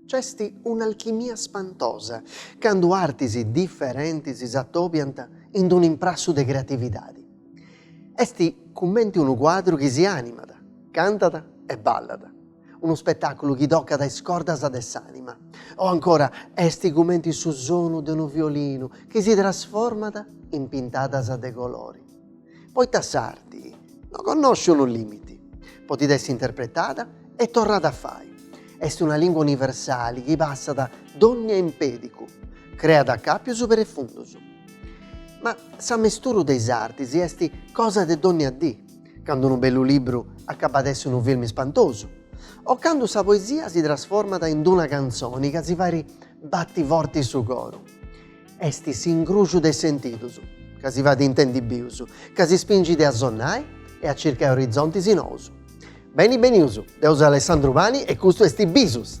C'est un'alchimia spantosa candu artis diferentis si atobiant in unu imprassu de creatividadi. Est cumenti unu cuadru chi si animat, cantat e ballat. Unu spetàculu chi tocat is cordas de s'ànima. O ancora, est cumenti su sonu de unu violinu chi si trasformat in pintadas de colori. Poita s'arti no connoscit lìmiti. Podit essi interpretada e torrada a fai. Est una lìngua universali chi passat dònnia impèdicu, creat acàpius prefundus. Ma s'amesturu de is artis est cosa de dònnia dì. candu unu bellu libru acabat a essi unu filmi spantosu, o candu sa poesia si trasformat in d'una cantzoni ca si fait bati forti su coru. Est s'incrùciu de sentidus ca si fait intendi bius, ca si spingit a sonnai e a circai orizontis nous. Beni benius, deu seu Alessandru Pani e custu est Bisus!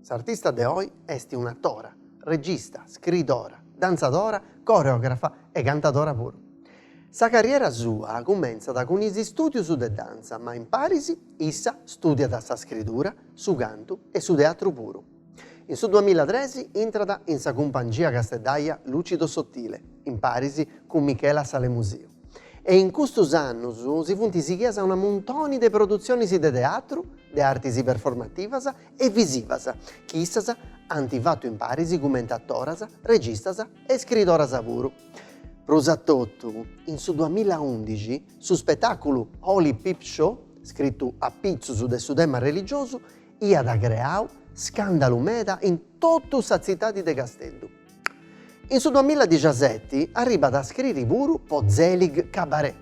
S'artista de oi est un'atora, regista, scriidora, dantzadora, coreografa e cantadora puru. Sa carriera sua cumentzat cun is istùdius de dantza ma in paris issa stùdiat sa scridura, su cantu e su teatru puru. In su duamilla tres intrat in sa cumpangia casteddaja Lucido Sottile, in paris cun Michela Sale Musio. e in custus annus si funt sighias a muntonis de produtziones de teatru, de artis performativas e visivas, chi issas ant fatu in paris cumenti atoras, registas e scridoras puru. Prus a totu, in su duamilla undixi, su spetàculu Holy Peep Show, scritu a pitzus de su tema religiosu, iat creau scàndalu meda in totu sa tzitadi de Casteddu. In su duamilla dixiaseti arribat a scriri puru po Zelig Cabaret,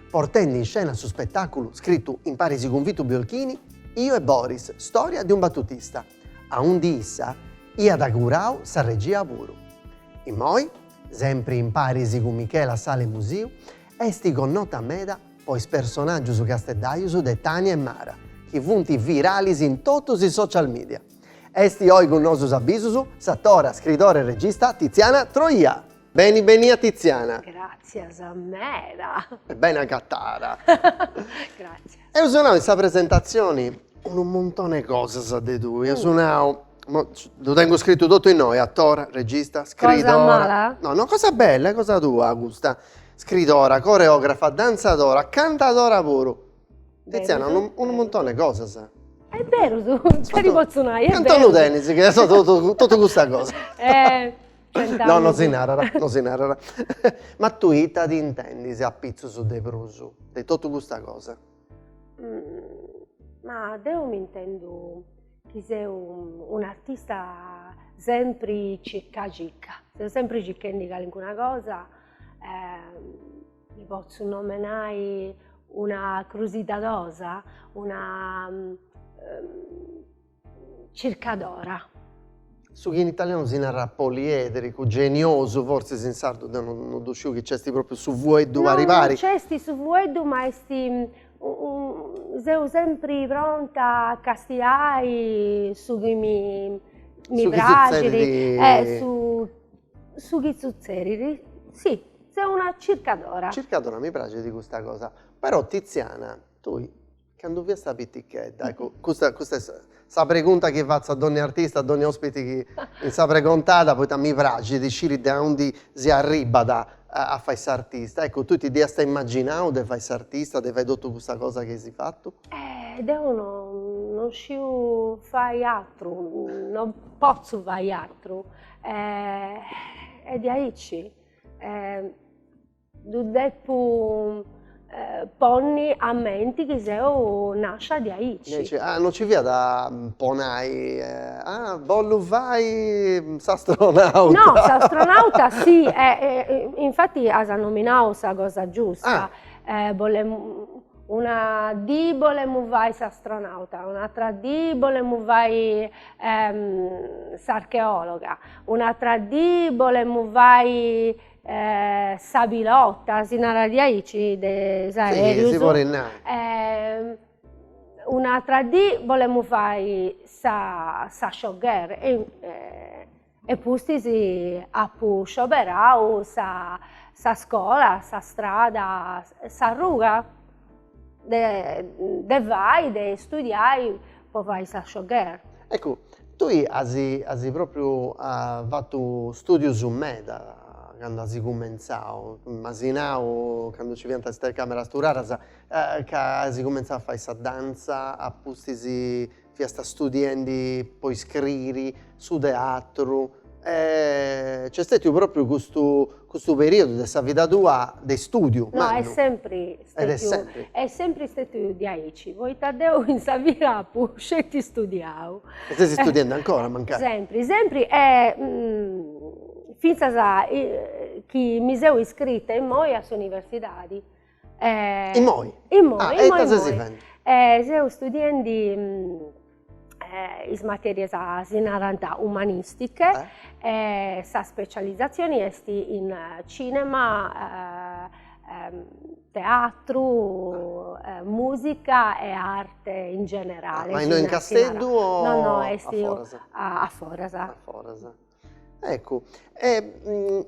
portendi in scena su spetàculu scritu in paris cun Vito Biolchini Io e Boris, storia di un battutista, aundi issa iat curau sa regia puru. Immoi, sempri in paris cun Michela Sale Musio, est connota meda po is personàgius casteddajus de Tania e Mara, chi funt viralis in totus is social media. Est oi cun nosus a Bisus s'atora, scridora e regista Tiziana Troja. Beni benia Tiziana. Gràtzias meda. E beni agatada. Gràtzias. Eus nau in sa presentatzioni unu muntone 'e cosas de tui, eus nau, ddu tengu scritu totu innoi, atora, regista, scridora. Cosa mala? No no, cosa bella, cosa tua custa. Scridora, coreografa, dantzadora, cantadora puru. Tiziana, unu, unu muntone cosas. È beru, su, nce lu potzu nai, è Cantu lu tenis chi est totu, totu custa cosa. Eh, centa. No, no si narat, no si narat. Ma tui ita ti intendis a pitzus de prus de totu custa cosa? Ma deu mi intendu chi seu un'artista sempri circa circa, seu sempri circhendi calincuna cosa Mi potzu nomenai una crusidadosa, una circadora. Su chi in italianu si narat poliedricu, geniosu fortzis in sardu deu no ddu sciu, chi nc'est pròpriu su fueddu pari pari. No, no nc'est su fueddu ma est seu sempri pronta a castiai su chi mi praxit, su chi sutzerit. Su chi sutzerit, sì Seu una circadora. Circadora mi praxit custa cosa. Però Tiziana, tui candu fiasta pitichedda, eccu custa custa est sa pregunta chi fatzu a dònnia artista, a dònnia ospiti chi in Sa Pregontada, poita mi praxit de sciri de aundi si arribat a a fai s'artista, eccu tui ti dd'iasta imaginau de fai s'artista, de fai totu custa cosa chi as fatu? Eh deu no non sciu fai atru, non potzu fai atru e diaici ddu depu ponni a menti chi seu nascia diaici. Ah, non ci fiat po nai, ah, bollu fai s'astronauta. No, s'astronauta si, infati as nominau sa cosa giusta, bolemu Una dì bolemu fai s'astronauta, un'atra dì bolemu fai s'archeologa, un'atra dì bolemu fai sa pilota, si narat diaici, de is aerus. Si, si podit nai. Un'atra dì bolemu fai sa sa showgirl e E pustis apu scioberau sa sa scola, sa strada, s'arruga de de fai, de studiai po fai sa showgirl. Eccu, tui asi asi propriu fatu studius meda candu asi cumenzau, m'asi nau candu ci fiant is telecameras turadas ca asi cumenzau a fai sa danza, a pustis fiast studiendi po iscriri su teatru e c'est stètiu propriu custu custu periodu de sa vida tua de istùdiu mannu. No est sempri stètiu. Ed est sempri. Est sempri stètiu diaici, poita deu in sa vida apu sceti istudiau. E ses istudiendi ancora mancai. Sempri sempri e fintzas chi mi seu iscrita immoi a s'universidadi Immoi. Immoi. E ita sesi fendi? Seu studiendi is materias, si narat umanistiche, sa specializzazioni est in cinema, teatru, musica e arte in generale. Ma innoi in Casteddu o aforas? No, no, est aforas. Aforas. Eccu, e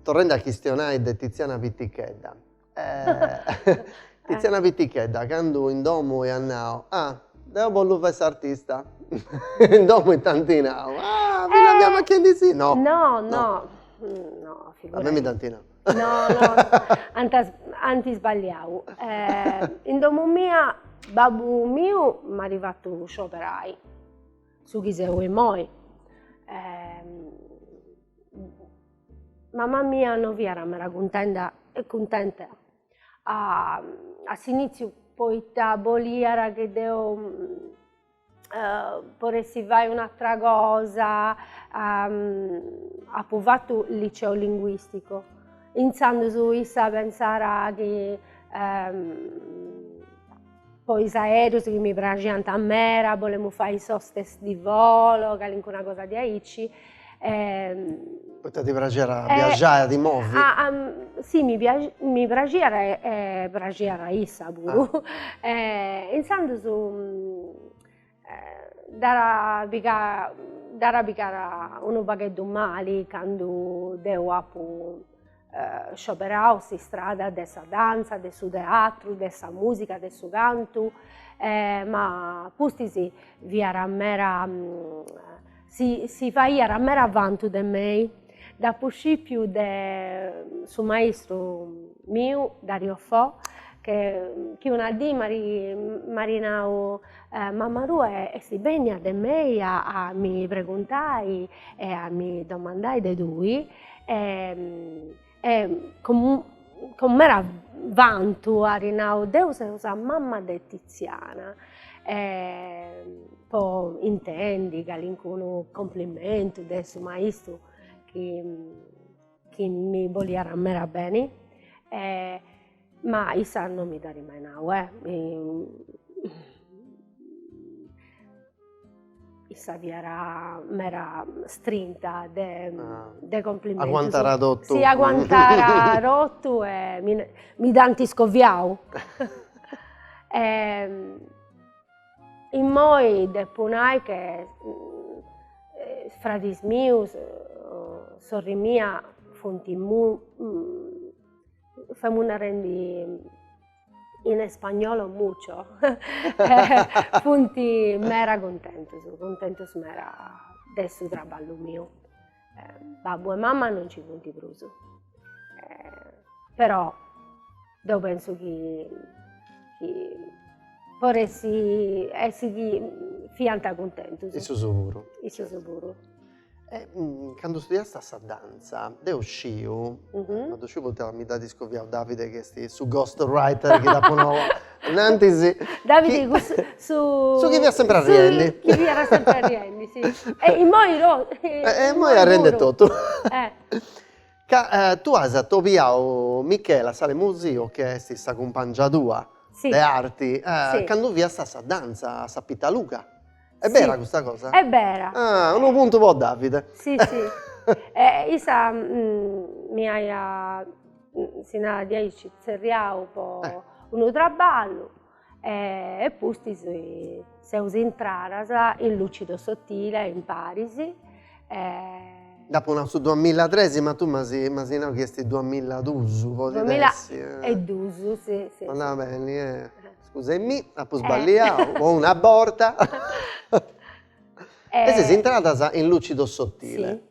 Torrendi a chistionai de Tiziana pitichedda, Tiziana pitichedda candu in domu at nau, ah, deu bollu fai s'artista, in domu ita t'anti nau, ah, mi la fia fachendi si, no, no, no, no, figurati, a mei mi dd'anti nau, no, no, ant isballiau, in domu mia babbu miu m'at fatu scioberai. Su chi seu immoi. Mama mia no fiat meda cuntenda e cuntenta a s'initziu poita boliat chi deu podessi fai un'atra cosa apu fatu liceo linguistico intzandus issa pensàt chi po is aereus chi mi praxiant mera, bolemu fai sa hostess di volo, calincuna cosa diaici e. Poita ti praxit a biaxai, a ti movi? Sì, mi mi praxiat e praxiat a issa puru e intzandus Dd'at dd'at pigada unu pagheddu mali candu deu apu scioberau s'istrada de sa dantza, de su teatru, de sa musica, de su cantu, ma pustis fiat mera Si si faiat mera vantu de mei. Dd'apu scìpiu de su maistru miu Dario Fo che chi una dì m'at nau, mama tua est bènnia de mei a mi preguntai e a mi domandai de tui e E cun mera vantu at nau, deu seu sa mama de Tiziana, e po intendi calincunu cumplimentu de su maistru chi mi boliat mera beni e Ma issa non mi dd'at mai nau, eh! Issa fiat meda strinta de de cumprimentu. Aguantàt totu. Sì, aguantàt totu e mi mi dd'ant iscoviau. Immoi depu nai che is fradis mius, sorri mia funt Femu narendi in spagnolo mucho, funt mera cuntentus, cuntentus mera de su traballu miu. Babbu e mama non nci funt prus, però deu pentzu chi chi podit essi essi chi fiant cuntentus. Issus puru. E cando studiast a sa dantza, deu sciu, ma ddu sciu poita mi dd'at iscoviau Davide chi est su ghost writer chi dd'apu nau innantis, Davide cussu su su chi fiat sempri arriendi, su chi fiat sempri arriendi si, e immoi e immoi arriendi totu, ca tue as atobiau Michela Sale Musio chi est sa cumpangia tua de arti cando fiast a sa dantza a sa Pitaluga Est bera custa cosa? Est bera. Ah, unu puntu po Davide. Si, si. E issa mi aiat, si narat diaici, tzerriau po unu traballu e pustis seus intradas in Lucido Sottile imparis. Dd'apu nau su duamilatres ma tui m'as nau chi est duamiladus, podit essi. Duamila e dus, si, si. Andat beni, eh. Scusa·mi, apo sballiadu po una borta. E seis intradas in Lucido Sottile.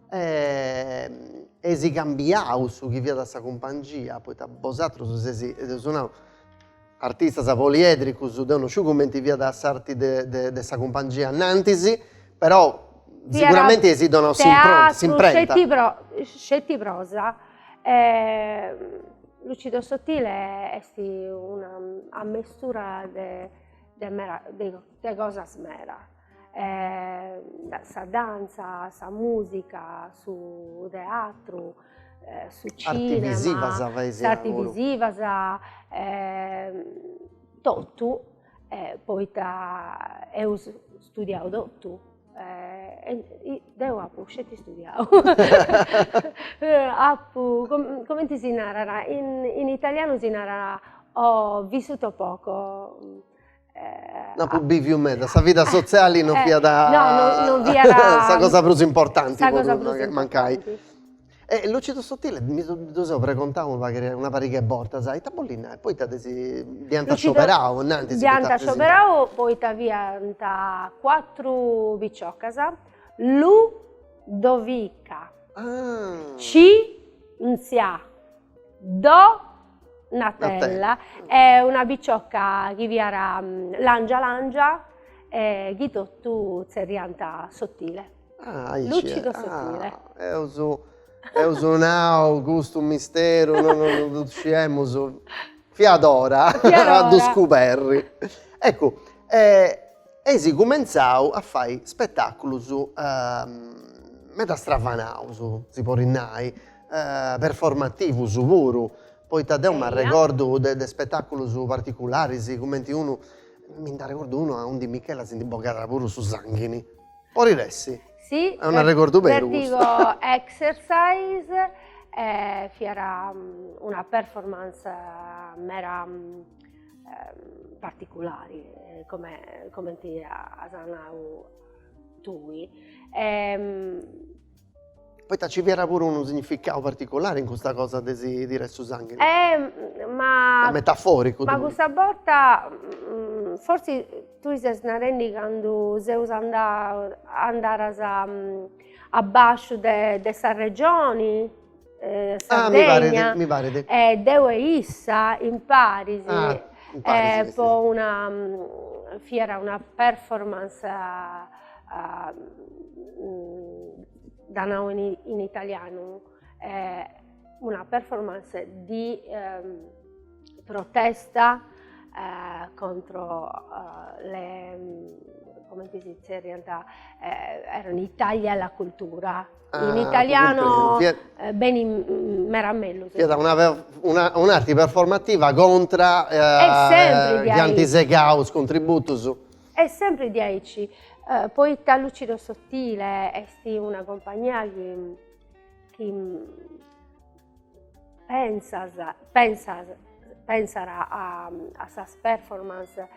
Eis cambiadu su chi fiat sa cumpangia, poita bosatrus seis, eus nau, artistas poliedricus, deu no sciu cumenti fiat s'arti de de de sa cumpangia annantis, però siguramente eis donau s'imprenta. Teatru, sceti pro sceti prosa E Lucido Sottile est una ammestura de de mera de cosas meda, sa dantza, sa musica, su teatru, su cinema, s'arti visiva totu, poita eus studiau totu Deu apu sceti istudiau, apu comenti si narat, in italianu si narat ho vissuto poco. No apu biviu meda, sa vida sotziali non fiat sa cosa prus importanti. Po mancai. E Lucido Sottile, mi su ddu seu pregontau una pari-, una pariga 'e bortas, a ita bollit nai, poita de si, dd'iant scioberau, nai, de si Lucido, dd'iant scioberau poita fiant cuatru piciocas, Lu, Dovica, Ci, Nzia, Do, Natella, e una picioca chi fiat langia langia e chi totu tzerriànt Sottile. Ah, aici Lucido Sottile. Ah, eus, eus nau custu misteru no no no ddu sciemus. Fiat ora Fiat ora. a ddu scuberri. Eccu, eis cumentzau a fai spetaculus meda stravanaus, si podit nai, performativus puru, poita deu m'arregordu de spetaculus particularis cumenti unu, mi nd'arregordu unu aundi Michela si ndi bogat puru su sanghini Po riressi. Si. È un'arregordu beru. Vertigo Exercise fiat una performance meda particulari, come comente as nau tui Poita ci fiat puru unu significau particulari in custa cosa de si tirai su sanghini. Eh ma. Ma metaforicu. Ma cussa borta forsis tui ses narendi candu seus andau andaras a basciu de sa regioni Sardegna, mi paret. E deu e issa imparis po una, fiat una performance ddu nau in italianu, una performance di protesta contro le, comente si zerriant, erano i tagli alla cultura in italiano benit meda mellus. Fiat una una un'arti performativa contra iant segaus contributus. Est sempri diaici, poita Lucido Sottile est una compagnia chi chi pensat a a sas performance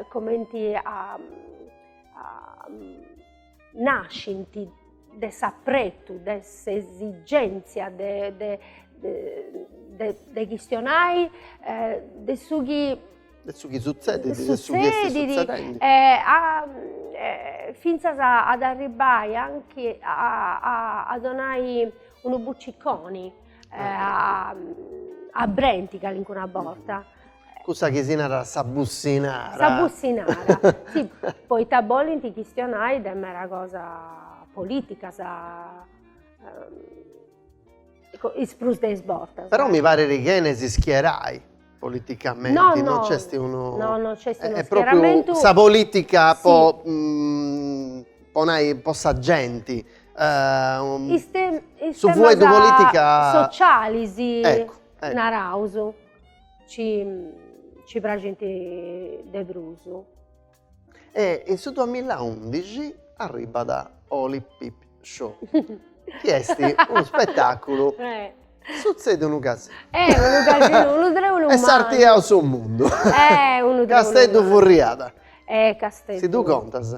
comenti a a nascint de s'apretu, de s'esigèntzia de de chistionai de su chi. De su chi sutzedit, de su chi est sutzedendi. fintzas ad arribbai anche a donai unu buciconi a brenti calincuna borta Cussa chi si narat sa bussinara. Sa bussinara, si, poita bolint chistionai de mera cosa politica is prus de is bortas. Però mi parit chi chene si schierai politicamenti, no no, non nc'est unu, no no nc'est unu schieramentu, propiu sa politica po po nai po sa genti, is temas, is temas sociali sì naraus Ci praxint de prus. E in su duamilaùndixi arribat Holy Peep Show, chi est unu spetàculu, sutzèdiu unu casinu. Eh, unu casinu, unu trèulu mannu. E s'artiaus su mundu. Eh, unu trèulu mannu. Casteddu furriat. Eh, Casteddu. Si ddu contas.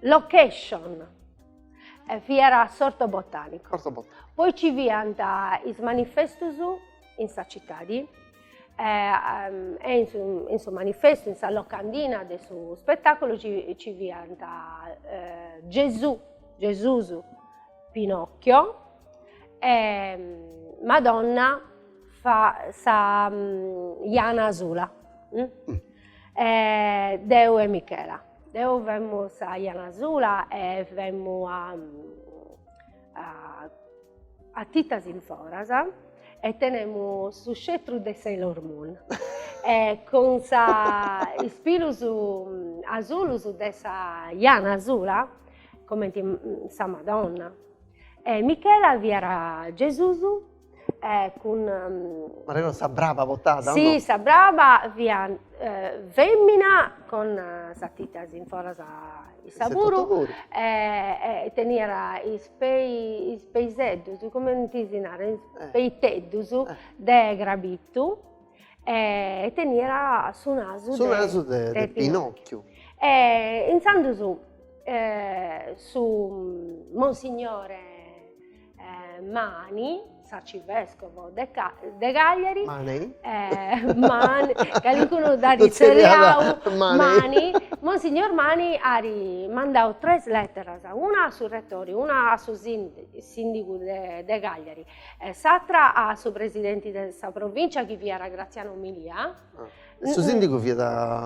Location, fiat s'orto botanico. S'orto botanico. Poi ci fiant is manifestus in sa citadi e in su in su manifestu, in sa locandina de su spetaculu ci ci fiant Gesù, Gesusu, Pinocchio e Madonna fiat sa jana asula E deu e Michela. Deu femu sa jana asula e femu a a titas in foras e tenemu su scetru de Sailor Moon e cun is pilus asulus de sa jana asula comenti sa Madonna e Michela fiat Gesusu e cun Ma sa braba portàt o no? Si sa braba fiat femina cun is titas in foras issa puru e teniat is pei is peiseddus cumenti si narat peixeddus de crabitu e teniat su nasu de su nasu de pinocchiu e intzandus su monsignore Eh, mani, s'arcivescovo de, Ca de Cagliari. Mani. Eh, mani, calincunu dd'at tzerriau, mani. mani. Monsignor Mani at mandau tres letteras, una a su rettori, una a su sindigu de, de Cagliari, e s'atra a su presidenti de sa provincia chi fiat Graziano Milia, Su sìndigu fiat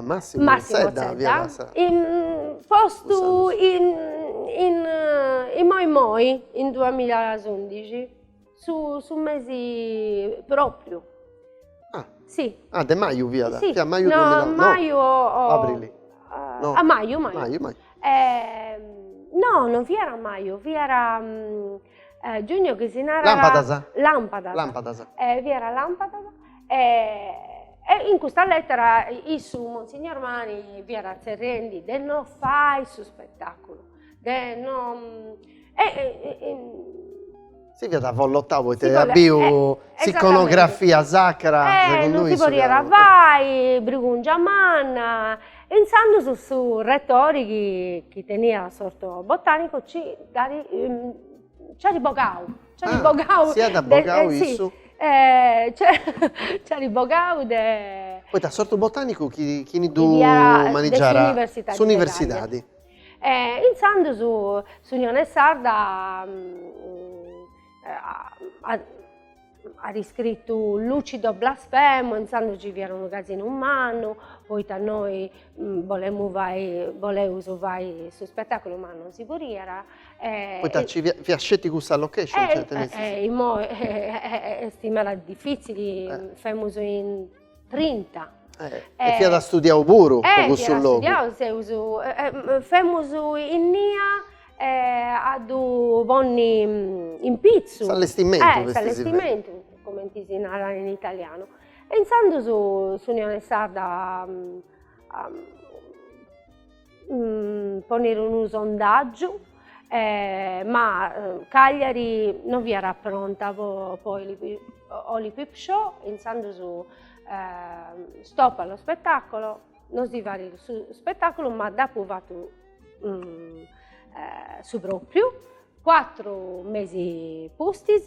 Massimo Zedda, fiat postu immoi immoi in duamilaùndixi, su su mesi pròpriu. Ah si ah de maju fiat, fiat maju duamila no maju o aprili no a maju maju maju maju e no non fiat maju fiat giugno chi si narat lampadas lampadas lampadas e fiat lampadas E, e in custa lètera issu, Monsignor Mani, fiat tzerrendi de no fai su spettaculu, de no e si fiat avvollotau poita iat biu s'iconografia sacra e non si podiat fai, brigungia manna, e intzandus su retori chi chi teniat s'orto botanicu ci dd'at nci at bogau Ciali ah, bogau. Siat eh, bogau de, issu? Sì. Eh, ci at bogau de... Poita s'ortu botanicu chi, chini ddu manigiara? S'universidadi. Eh, intzandus s'Unione Sarda mm, eh, at iscritu lucido blasfemo, intzandus ci fiat unu casinu mannu, poita nosu mm, bolemus fai, boleus fai su spetaculu ma non si podiat, Poita ci fiat sceti cussa location, cioè tenessi. Eh, est meda difitzili, femus in trinta. E fiat studiau puru po cussu logu. Eh, fiat studiau, seus, femus innia a ddu ponni in pitzu. S'allestimentu, s'allestimentu. S'allestimentu, cumenti si narat in italianu. E intzandus s'Unione Sarda poniri unu sondaggiu ma Cagliari non fiat pronta po po peep show intzandus stop a lo spettacolo non si farit su spettaculu ma dd'eus fatu su propriu cuatru mesi pustis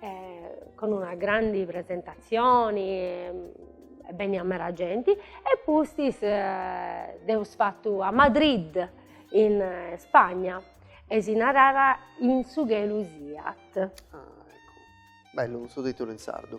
eh, cun una grandi presentatzioni, e beniat mera genti, e pustis eh, dd'eus fattu a Madrid, in eh, Spagna, e si narada In su chelu siat. Ah, ecco. Bellu su titulu in sardu.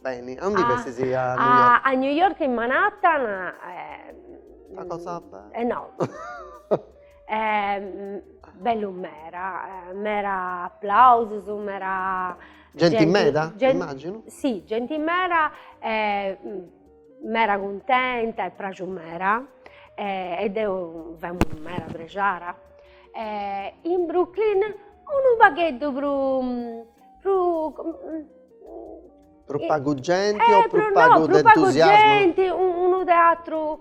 Beni, a undi festis a New York? A New York in Manhattan una cosa bella no bellu meda, meda applausus, meda genti meda immaginu? Sì genti meda e meda cuntenta e praxiu meda e deu femu meda prexara e in Brooklyn unu pagheddu prus prus Prus pagu genti o prus pagu de entusiasmu? unu teatru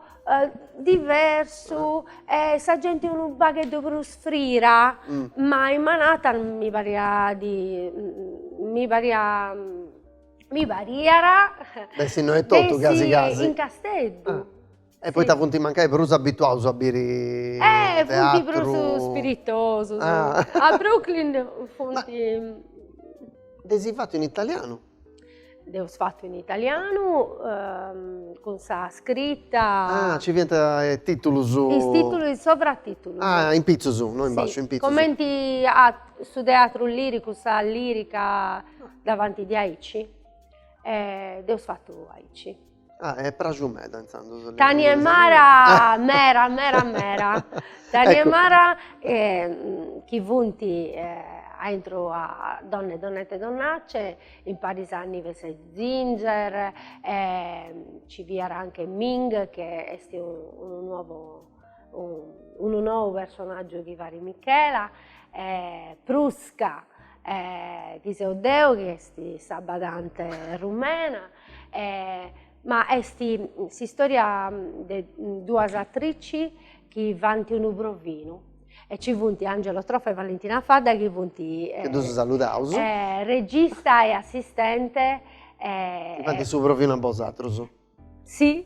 diversu e sa genti unu pagheddu prus frira, ma in Manhattan mi pariat di mi pariat mi pariat de si no etotu casi casi in Casteddu E poita funt mancai prus abituaus a biri teatru? Eh, funt prus spiritosus. A Brooklyn funt. Dd'eis fatu in italianu? Dd'eus fatu in italianu cun sa scrita. Ah, nci fiant is titulus. Is titulus, is sovratitulus. Ah, in pitzus, no in basciu, in pitzus. Cumenti su teatru liricu, sa lirica davanti diaici, dd'eus fatu aici. Ah, è praxu meda intzandus. Tania e Mara, mera, mera, mera. Tania e Mara chi funt aintru a Donne Donnette Donnacce, imparis a Nives e Ginger, ci fiat anche Ming chi est unu nuovo unu nou personaggiu chi farit Michela, Prusca chi seu deu chi est sa badante rumena Ma est s'istòria de duas atrici chi faint unu provinu e ci funt Angelo Trofa e Valentina Fadda chi funt, chi ddus saludaus, regista e assistente, chi faint su provinu a bosatrus. Si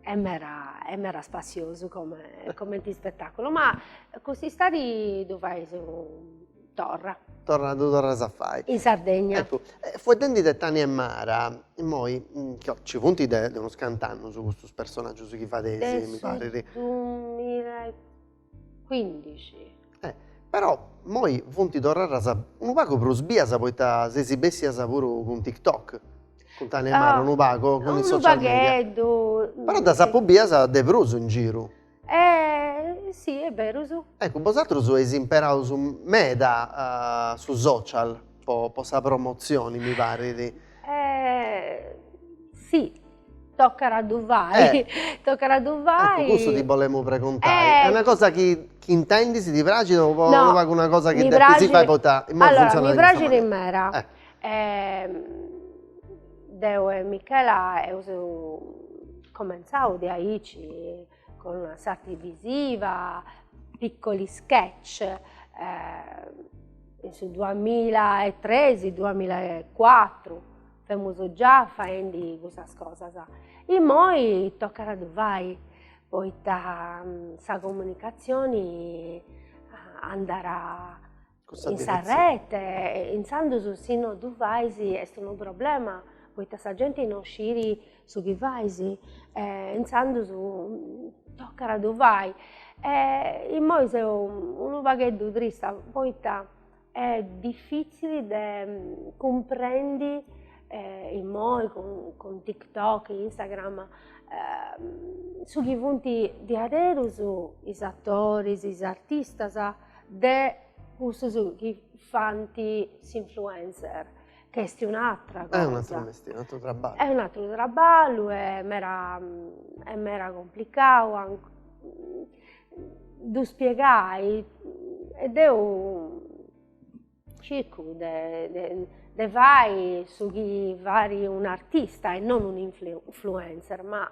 est meda est meda spassiosu comente ispetàculu, ma cust'istadi ddu fais unu Torra. Torra ddu torras a fai. In Sardegna. Eccu, fueddendi de Tani e Mara, immoi ca ci funt de unus cant'annus custus personaggius chi fadeis, mi parit. De su dumila e cuindixi. Eh, però immoi funt torradas unu pagu prus bias poita seis bessias puru cun TikTok, cun Tani e Mara unu pagu, cun is social media. Unu pagheddu. Però ddas apu bias de prus in giru. E si e berus. Eccu bosatrus eis imperaus meda su social po sa promozioni mi parit. Si tocat a ddu fai, tocat a ddu fai. Eccu cussu ti bolemu preguntai, est una cosa chi intendis, ti praxit o est una cosa chi depis fai poita imoi funzionat in custa manera. Allora mi praxit meda E deu e Michela eus comentzau de aici cun una s'arti visiva, piccoli sketch, in su duamilla e tres, duamilla e cuatru, femus già faendi custas cosas. Immoi tocat a ddu fai poita sa comunicatzioni andat In sa rete, intzandus si no ddu fais est unu problema, poita sa genti non scit su chi fais e intzandus tocat a ddu fai. E immoi seu unu pagheddu trista poita est difitzili de cumprendi immoi cun cun tiktok, instagram su chi funt diaderus is atoris, is artistas de cussus chi fant s'influencer ca est un'atra cosa, è un'atru mestieri, un'atru traballu, è un'atru traballu e mera e mera complicau ddu spiegai e deu circu de de fai su chi fait un'artista e non un'influencer ma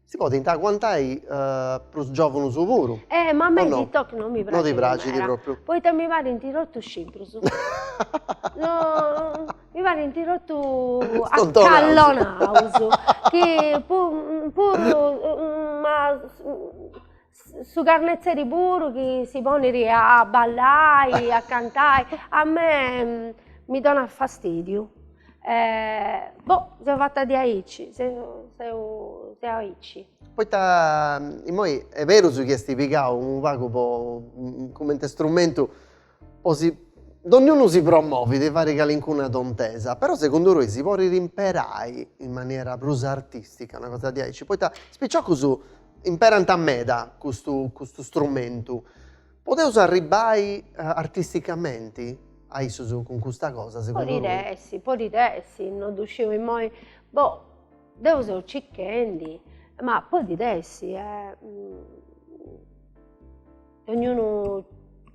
Si podint aguantai prus giòvunus puru. Eh ma a mei TikTok no mi praxit meda. No ti praxit propriu. Poita mi parint totus scimprus. No mi parint totus acallonaus chi puru Su carnetzeri puru chi si ponit a ballai, a cantai, a me mi donat fastidiu e boh seu fata diaici, seu seu seu aici. Poita immoi est berus chi est pigau unu pagu po comente strumentu Po si dogniunu si promovi de fari calincuna tontesa, però segundu tui si porit imperai in maniera prus artistica, una cosa diaici, poita is piciocus imperant meda custu custu strumentu. Podeus arribbai artisticamenti a issus cun custa cosa segundu roi? Podit essi, podit essi, non ddu sciu immoi, boh, deu seu cichendi, ma podit essi Dognunu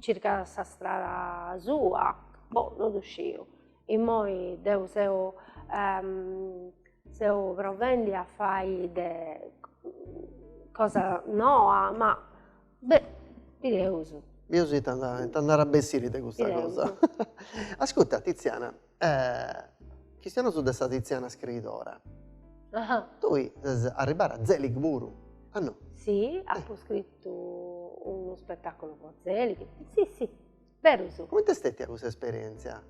circat sa strada sua, boh, non ddu sciu, immoi deu seu seu provendi a fai de cosa noa, ma beh, bideus. Bideus ita nd'at a bessiri de custa cosa. Ascurta Tiziana, Chistionaus de sa Tiziana scriidora. Tui ses arribada a Zelig puru, a no? Si, apu scritu unu spettaculu po Zelig, si si, berus. Comente est stètia custa esperientzia?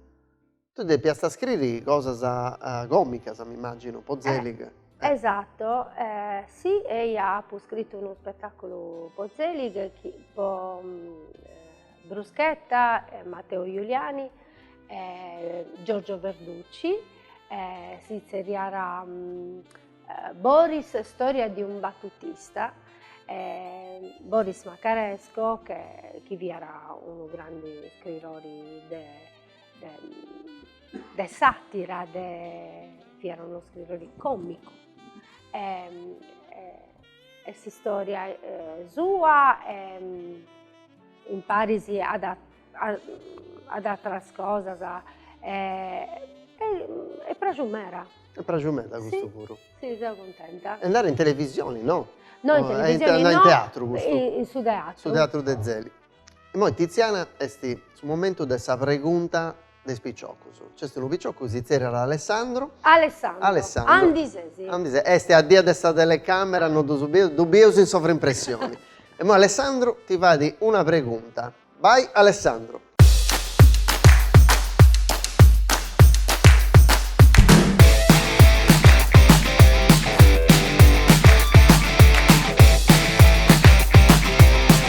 Tui depiast a scriri cosas comicas m'immaginu po Zelig. Esatto, si eia apu scritu unu spettaculu po Zelig chi po Bruschetta, Matteo Giuliani, Giorgio Verducci, si tzerriat Boris storia di un battutista, Boris Makaresko chi fiat unu grandi scritori de de sàtira, fiat unu scritori còmicu e s'istòria sua Imparis ad atras cosas est pràxiu meda. Est pràxiu meda custu puru. Si, seu cuntenta. E andare in televisioni no? No in televisioni no. In teatru custu. In su teatru. Su teatru de Zelig. Immoi Tiziana est su momentu de sa pregunta de is piciocus. Nc'est unu picioccu chi si tzerriat Alessandro. Alessandro. Alessandro. Andi sesi? Andi sesi? Est a dia de sa telecamera no ddu bieus, ddu bieus in sovrimpressioni. Immoi Alessandro ti fait una pregunta. Bai Alessandro.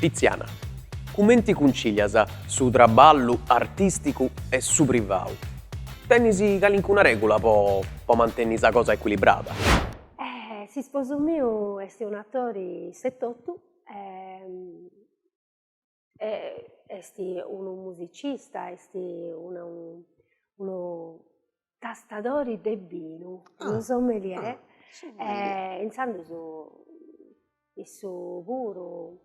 Tiziana, cumenti cuncilias su traballu artisticu e su privau? Tenis calincuna regula po po mantenni sa cosa equilibrada? S'isposu miu est un'atori e totu e est unu musicista, est unu unu tastadori de binu, unu sommelier e intzandus issu puru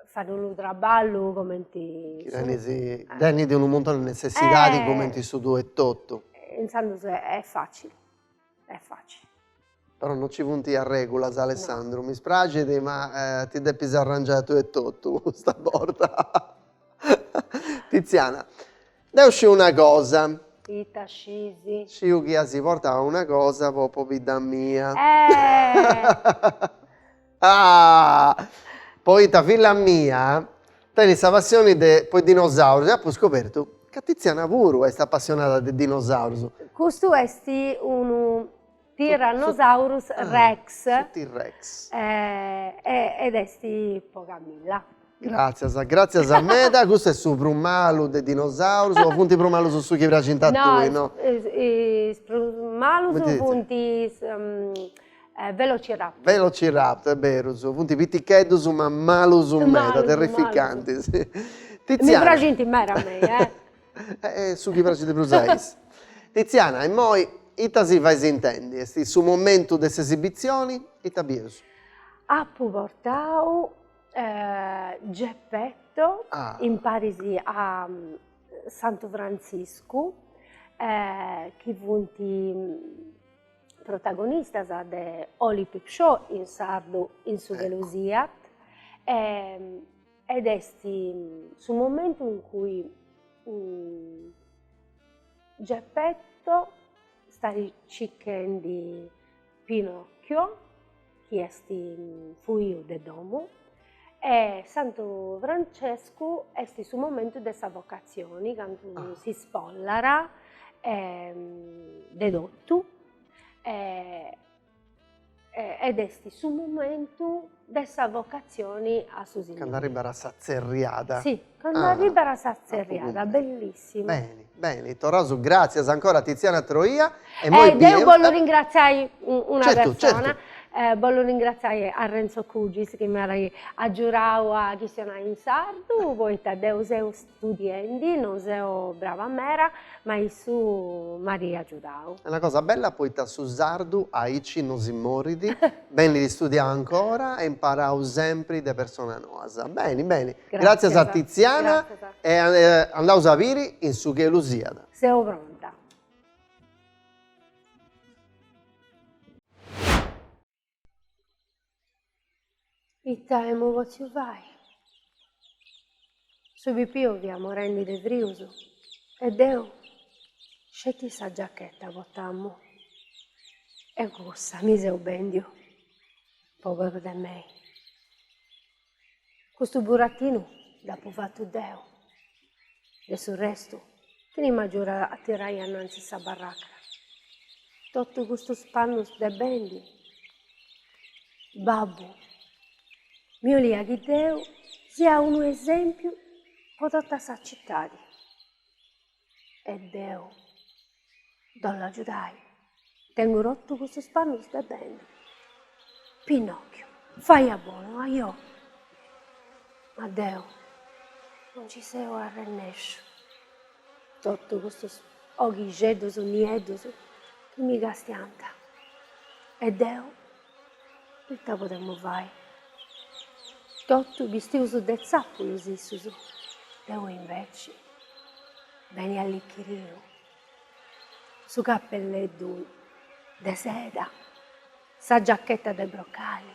fait unu traballu cumenti. Chi tenit tenit unu muntone de netzessidadi cumenti su tuu etotu. E intzandus est fàtzili Est fàtzili. Però non ci funt is regulas Alessandru, mi spraxit ma ti depis arrangiai tui etotu custa borta. Tiziana, deu sciu una cosa. Ita scisi? Sciu chi asi portau una cosa po pobidda mia. Eh! Ah! Poita filla mia tenit sa passioni de po is dinosaurus e apu scobertu ca Tiziana puru est apassionada de dinosaurus. Custu est unu Tyrannosaurus Rex. Su T-Rex. Ed est po Camilla. Gràtzias, gràtzias meda, custu est su prus malu de is dinosaurus o funt prus malus su chi praxint a tui? No, is prus malus funt is velociraptor. Velociraptor, berus, funt piticheddus ma malus meda, terrificantis. Mi praxint meda a mei, eh. E su chi praxit prus a is. Tiziana, immoi ita si fais intendi? Est su momentu de s'esibitzioni, ita bieus? Apu portau Uh, Geppetto, ah. imparis a mm, Santu Frantziscu, eh, chi funt protagonistas de Holy Peep Show in sardu In su chelu siat e, ed est su momentu in cui um, Geppetto stat cichendi Pinocchio, chi est fuiu de domu, e Santu Francescu est su momentu de sa vocatzioni, candu s'ispollat de totu ed est su momentu De sa vocatzioni a su signori. Cando arribbat a sa tzerriada. Sì, cando arribbat a sa tzerriada, bellissimo. Beni, beni, torraus, gràtzias ancora a Tiziana Troia e moi biu. E deu bollu ringratziai una persona, bollu ringratziai a Renzo Cugis chi m'at agiudau a chistionai in sardu, poita deu seu Studiendi non seu brava mera ma issu m'at agiudau. Est una cosa bella poita su sardu aici no si morit, benit studiau ancora e imparau sempri de personas noas. Beni beni. Gratzias a Tiziana e andaus a biri In su chelu siat. Seu pronta. Ita emu potziu fai? Su pipiu fiat morendi de frius e deu sceti sa giacheta portamu e cussa mi seu bendiu pòberu de mei. Custu burattinu dd'apu fatu deu. De su restu, chini m'agiudat a tirai annantzis sa barracca? Totu custus pannus de bendi? Babbu miu 'oliat chi deu sia unu esempiu po tota sa citadi. e deu ddos l'agiudai. Tengu rotu cussus pannus de beni. Pinòchiu, fai a bonu, ajò! Ma deu no nci seu arrennesciu. Totu custus oghixeddus niedus chi mi castiant e deu Ita podemu fai? Totu bistius de tzàpulus issus, deu inveci beni allichiriu, su cappelleddu de seda, sa giacchetta de brocali,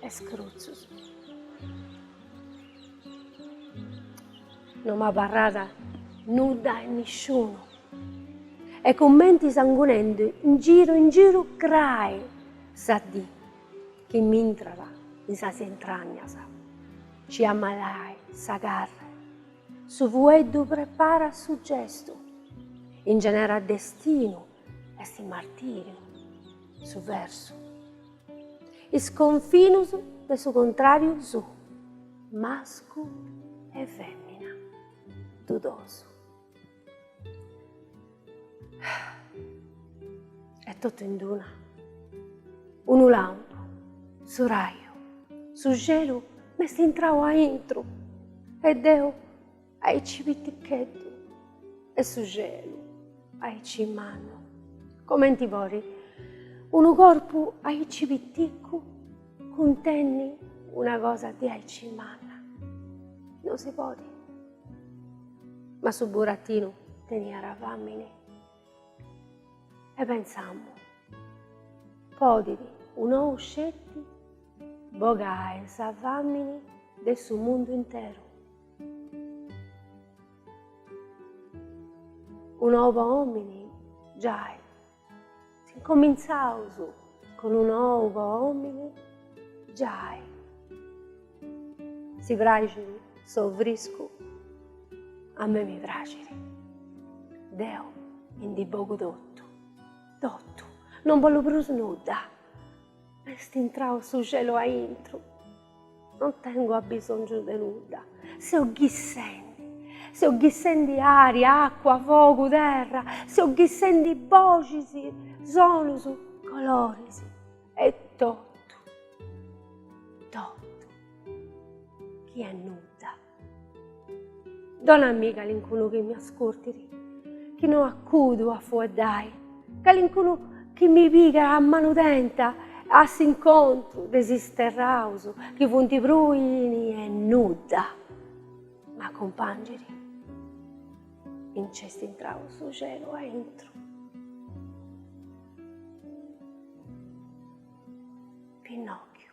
e scrutzus. No m'abarrat nudda e nisciunu e cumenti sangunendi in giru in giru crai sa dì chi m'intrat in sas intragnas. Ci ammalai sa carre, su fueddu preparat su gestu, ingenerat destinu est martìriu su versu. Is confinus de is contràrius, mascu e fèmina, dudosu. E totu in duna, unu lampu, su raju, su celu m'est intrau aintru e deu Aici piticheddu e su celu aici mannu. Comenti podit unu corpu aici piticu cuntenni una cosa de aici manna. No si podi. Ma su burattinu teniat fàmini. E pensamu, podit un'ou sceti bogai su fàmini de su mundu interu. Un'ou a òmini? Giai, s'incomintzàus cun un'ou a òmini? Giai. Si praxit s'ou friscu? A mei mi praxit. Deu ndi bogu totu, totu, non bollu prus nudda. M'est intrau su celu aintru. Non tengo abbisòngiu de nudda. Seu bessendi. Seu bessendi ària, acua, fogu, terra. Seu bessendi boxis, sonus, coloris e totu, totu chi est nudda. Donai-mì calincunu chi mi ascurtit, chi no acudu a fueddai, calincunu chi mi pigat a manu tenta a s'incontru de s'isterraus chi funt pruini e nudda m'acumpangit. Nc'est intrau su celu aintru. Pinnòchiu.